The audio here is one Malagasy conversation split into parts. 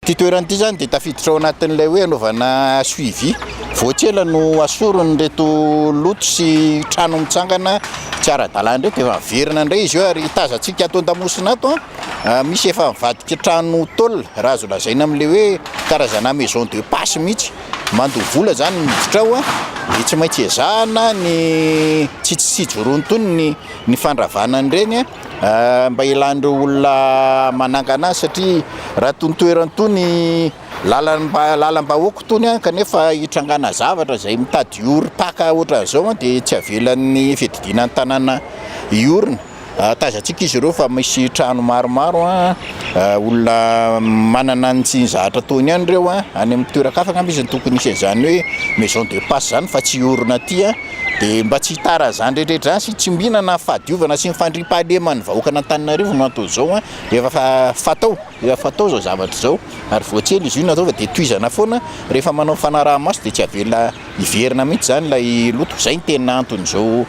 Ity toerana ity izany dia tafiditra ao anatin'ilay hoe anaovana suivi. Vao tsy ela no asoron'ireto loto sy trano mitsangana tsy ara-dalàna ireto, efa miverina indray izy io ary tazantsika ato an-damosina ato an, misy efa mivadika trano tôle raha azo lazaina amin'ilay hoe karazana maison de passe mihitsy. Mandoa vola izany ny miditra ao an, dia tsy maintsy ezahana ny tsy tsy ijoroany intsony ny fandravana an'ireny an. mba hialan'ireo olona manangana azy satria raha itony toerana itony lalam-ba- lalam-bahoaka itony an, kanefa hitrangana zavatra izay mitady orim-paka ohatran'izao an dia tsy avelan'ny fiadidiana ny tanàna hiorina, ahatazantsika izy ireo fa misy trano maromaro an, olona manana ny tsy ny zahatra ataony ihany ireo an, any amin'ny toeran-kafa angamba izy no tokony hisy an'izany hoe maison de passe izany fa tsy hiorina aty an. dia mba tsy hitara an'izany rehetra rehetra izany sy tsy mihinana ny fahadiovana sy ny fandriampahaleman'ny vahoakan'Antananarivo no antony izao an, efa fatao, efa fatao izao zavatra izao ary vao tsy ela izy io no atao fa dia tohizana foana rehefa manao fanaraha-maso dia tsy avela hiverina mihintsy izany ilay loto, izay no tena anton'izao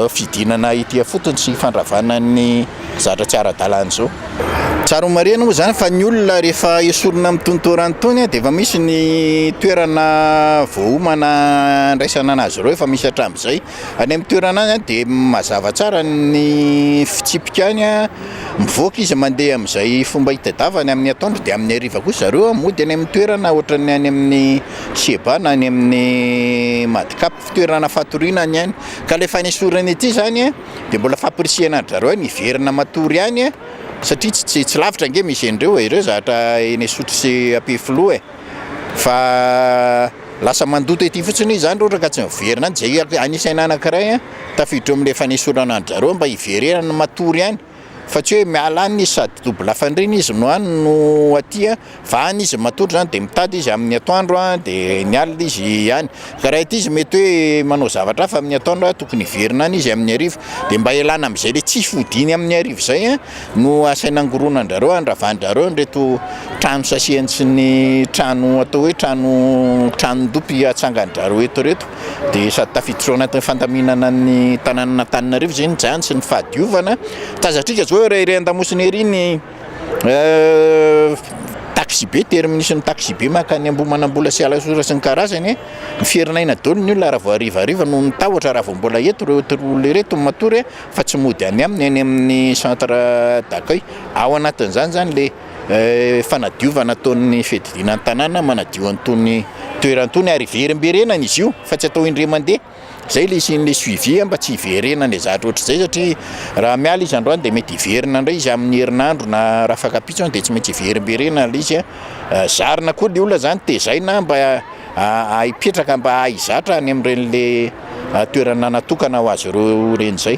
fidinana ety ifotony sy fandravana ny. zatra tsy ara-dalàna izao. Tsara homarihina moa izany fa ny olona rehefa esorina amin'ny tony toa rano tony dia efa misy ny toerana voaomana handraisana an'azy ireo, efa misy hatramin'izay. Any amin'ny toerana any an dia mazava tsara ny fitsipika any, mivoaka izy mandeha amin'izay fomba hitadiavany amin'ny atoandro dia amin'ny hariva kosa zareo mody any amin'ny toerana ohatran'ny any amin'ny CEBA na any amin'ny Madcap, fitoerana fatoriana ny any ka ilay fanesorana ity izany an. de mbola fampirisihana an-dry zareo hoe miverina matory any e, satria tsy tsy tsy lavitra ange misy andreo e, ireo zatra eny Isotry sy Ampefiloha e, fa lasa mandoto ety fotsiny zany raha ohatra ka tsy miverina any, zay anisaina anakiray an, tafiditra eo amle fanesorana an-dry zareo mba hiverenany matory any. fa tsy hoe miala any izy sady double lafandriana izy no any no aty a, fa any izy matory zany de mitady izy amin'ny atoandro a de ny alina izy any, ka raha ity izy mety hoe manao zavatra hafa amin'ny atoandro a tokony hiverina any izy amin'ny hariva, de mba hialana am'zay le tsy fodiany amin'ny hariva zay a no asaina angoronan-drareo andravan-drareo an'ireto trano sasiany sy ny trano atao hoe trano tranon-dopy atsangan-drareo eto reto. dia sady tafiditra ao anatin'ny fandaminana ny tanànan'Antananarivo izay ny jany sy ny fahadiovana. Tazatrika izao ery ery an-damosina ery ny taxibe, terminus ny taxibe makany Ambohimanambola sy Alasora sy ny karazany. Miferinaina daholo ny olona raha vao harivariva noho ny tahotra raha vao mbola eto ireto olona ireto no matory fa tsy mody any aminy, any amin'ny centre d'accueil. Ao anatin'izany izany ilay fanadiovana ataon'ny fiadidiana ny tanàna manadio an'itony toerana itony ary hiverimberenana izy io fa tsy atao indray mandeha, izay ilay hisian'ilay suivi mba tsy hiverenan'ilay zavatra ohatr'izay satria raha miala izy androany dia mety hiverina indray izy amin'ny herinandro na raha fakan-pitsony any dia tsy maintsy hiverimberenana ilay izy a, zarina koa ilay olona zany tezaina mba ha- hipetraka mba hizatra any amin'ireny le toerana natokana ho azy ireo ireny izay.